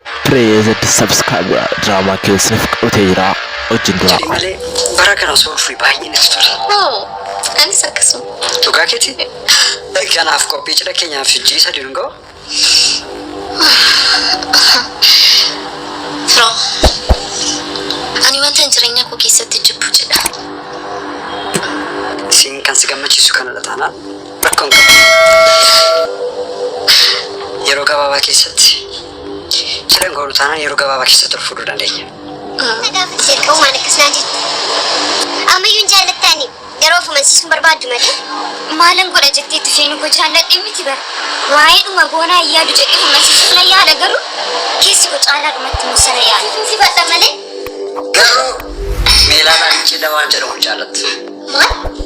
Praise the subscribe drama keessan fudhatee jira wajjin dura. Jedhi malee bara kana osoo dhufee baay'ee natti tole. Hoo, anis akkasuma. Dhugaa keeti? Kanaaf qophii cidha keenyaaf hojii isa dungoo? Firoo, ani wanta jireenya koo keessatti jibbu jedha. Siin kan si gammachiisu kanadha taanaan Rakkoo hin qabu. Yeroo gabaabaa keessatti fedhan goonu taanaan yeroo gabaabaa keessatti ol fuudhuu dandeenya. Erga uumaan akkas naan jette. Ammayyuu hin jaallattaani. Garuu of amansiisuun barbaaddu malee. Maalan godha jettee itti seenuu koo jaalladhee miti bara. Waa'ee dhuma goonaa hin yaadu jedhee of amansiisuuf nan yaala garuu keessi koo caalaa dhumatti immoo sana yaala. Nuti badha malee. Garuu meelaa laafichee dawaan jedhamu hin jaallattu. Maal?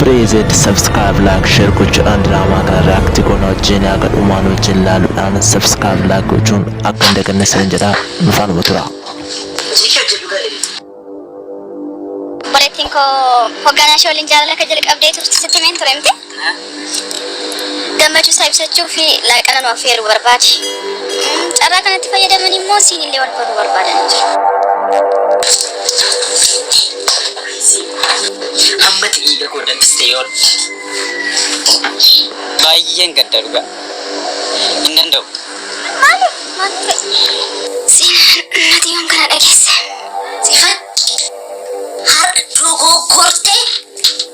Preezed subscribe like share gochuudhaan diraamaa kana react goona wajjin haga dhumaan wajjin laaluudhaan subscribe like gochuun akka hin daganne sin jedha nu faanuma tura. Jiki hojjedhu galee. Obboleettiin koo hogganaa ishee waliin jaalala akka jalqabdee turte sitti himeen ture miti. gammachuu isaa ibsachuu fi laaqana nu affeeruu barbaade. Carraa kanatti fayyadamanii immoo siin illee wal baruu barbaadanii jiru. Hammati dhiiga koo danfiste yoon. Baay'een gadda dhugaa. Hin danda'u. Maaliif? Maal ture? Siin nati yoon kana dhageesse. Sifan har'a dogoggortee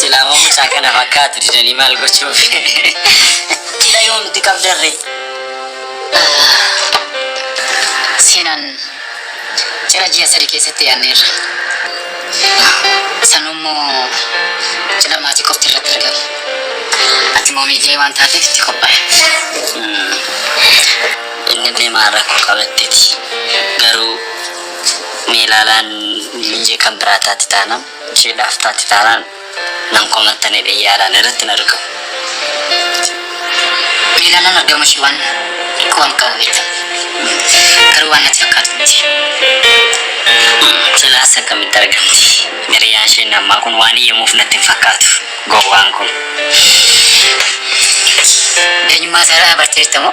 Silaa moo mucaa kana fakkaatu didanii maal gochuuf? Dila yoomti qabdarre. Seenaan cidha ji'a sadi keessatti yaadneerra. Sanuu immoo cidha maatii qofti irratti argama. Ati moo miidiyee waan taateef itti qophaa'e. Inni deemaa rakkoo qabatteeti. Garuu meelaalaan miinjee kan biraa taati taanaan. Ishee dhaaf taate taanaan nan komattanii dhiyyaalaan irratti na riqu. Beelaan nama gama ishee waan waan qabu beekta. Garuu waan natti fakkaatu miti. Silaas akkamitti argamti? Hiriyaan ishee inni ammaa kun waan iyyamuuf natti hin fakkaatu. Gowwaan kun. Eenyummaa isaa irraa barteetta moo?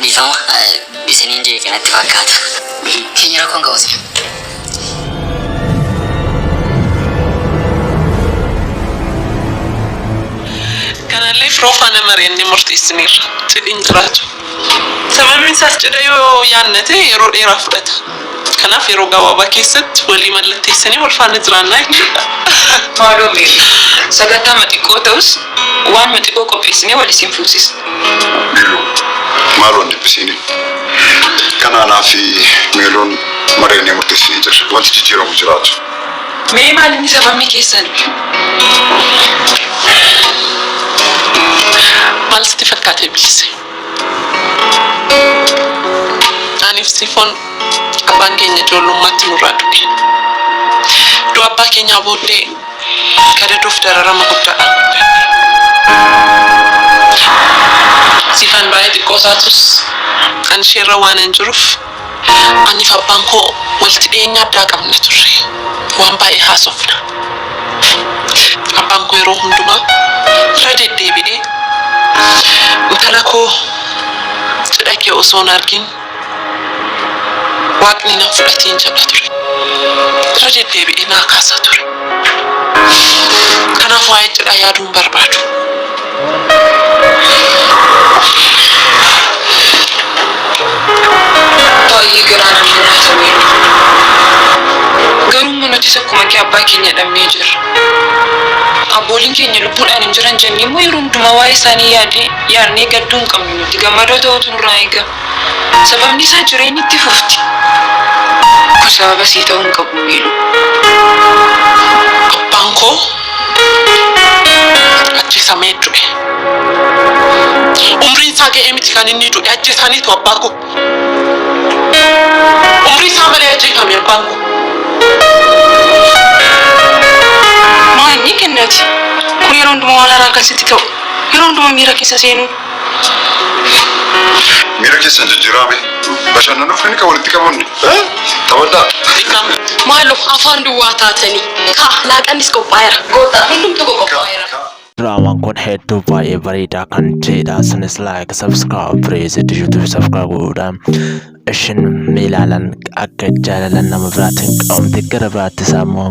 Dhiifama isiniin jeeqe natti fakkaata. Keenya rakkoon qabu sila. Kanallee firoo faana mari'annee murteessineerra. Cidhi hin jiraatu. Sababni isaas cidha yoo yaadne ta'e yeroo dheeraa fudhata. Kanaaf yeroo gabaabaa keessatti walii mallatteessanii wal faana jiraannaa jechuudha. Maaloo mee sagantaama xiqqoo ta'us waanuma xiqqoo qopheessinee wal isin fuusisna. Meeloo, maaloo hin dhiphisiinin. Kan anaa fi Meeloon mari'annee murteessinee jirra. Wanti jijjiiramu hin jiraatu. Mee maal inni sababni keessan? Maal sitti fakkaate Bilise? Aniif Sifoon abbaan keenya ijoollummaatti nurraa du'e. Du'a abbaa keenyaa booddee gadaduuf dararama guddaadhaan guddanne. Sifan baay'ee xiqqoo taatus ani isheerra waanan jiruuf, Aniif abbaan koo walitti dhiyeenya addaa qabna turre. Waan baay'ee haasofna. Abbaan koo yeroo hundumaa irra deddeebi'ee intala koo cidha kee osoo hin argin Waaqni nan fudhatiin jedha ture. Irra deddeebi'ee naa kaasa ture. Kanaaf waa'ee cidhaa yaaduu hin barbaadu. Baay'ee garaa nama nyaata mee dhugaa. Garuu immoo nutis akkuma kee abbaa keenya dhabnee jirra. Abbooliin keenya lubbuudhaan hin jiran jennee immoo yeroo hundumaa waa'ee isaanii yaadee yaadnee gadduu hin qabnu nuti gammadoo ta'uutu nurraa eegama. Sababni isaa jireenyi itti fufti. Kun sababa sii ta'uu hin qabu Meeluu. Abbaan koo Ajjeesamee du'e. Umriin isaa ga'ee miti kan inni du'e ajjeesaniitu abbaa koo. Umrii isaa malee ajjeefame abbaan koo. Maanyi kennati. Kun yeroo hundumaa waan haaraa kan sitti ta'u. Yeroo hundumaa miira keessa seenuu. Miira keessan jijjiiraa mee. Bashannanuuf inni kan walitti qabuun taphadhaa. Maaloo afaan duwwaa taatanii. Kaa laaqannis qophaa'eera. Kootaa hundumtuu koo qophaa'eera. Diraamaan kun hedduu baay'ee bareedaa kan ta'edha. Isinis like, subscribe, praise, YouTube subscribe godhuudhaan isin ni ilaalan akka jaalalan nama biraatiin qabamte gara biraattis ammoo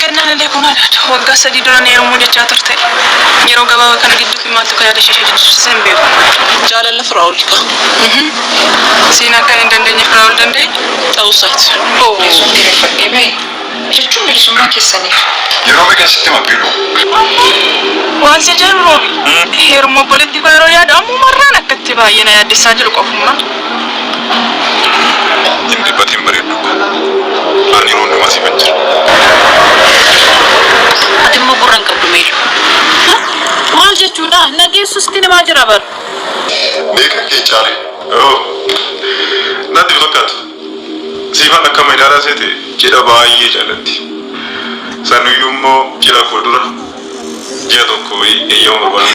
Kennaan illee kun haadha waggaa sadii dura na heerumuu jechaa turte. Yeroo gabaabaa kana gidduutti maaltu akka yaada ishee jijjiirsiise hin beeku. Jaalala Firaa'ol kaa. Uhuu. Siin akkan hin dandeenye Firaa'ol danda'e? Ta'uu isaati. Ohh. Yesuun diriirfadhee ba'e. Jechuun bilisummaa keessaniif. Yeroo meeqan sitti hima Biiluu? Ammuu. Waan siin jedhu Roobi. Heerumuu obboleettii koo yeroon yaadu ammuma irraan akka itti baay'ee na yaaddessaa jiru qofummaa. Hin dhiphatin bareeddu ko. Ani yeroo hundumaa siifan jira. Ati immoo gurra hin qabdu meetu. Maal jechuudha na geessu sitti himaa jira bar. Beekan kee caale. Ohh. Natti hin fakkaatu. Siifan akkama ilaalaa seete cidha baay'ee jaallatti. Sanuyyuu immoo cidha koo dura ji'a tokko wayii eeyyama barbaaduu.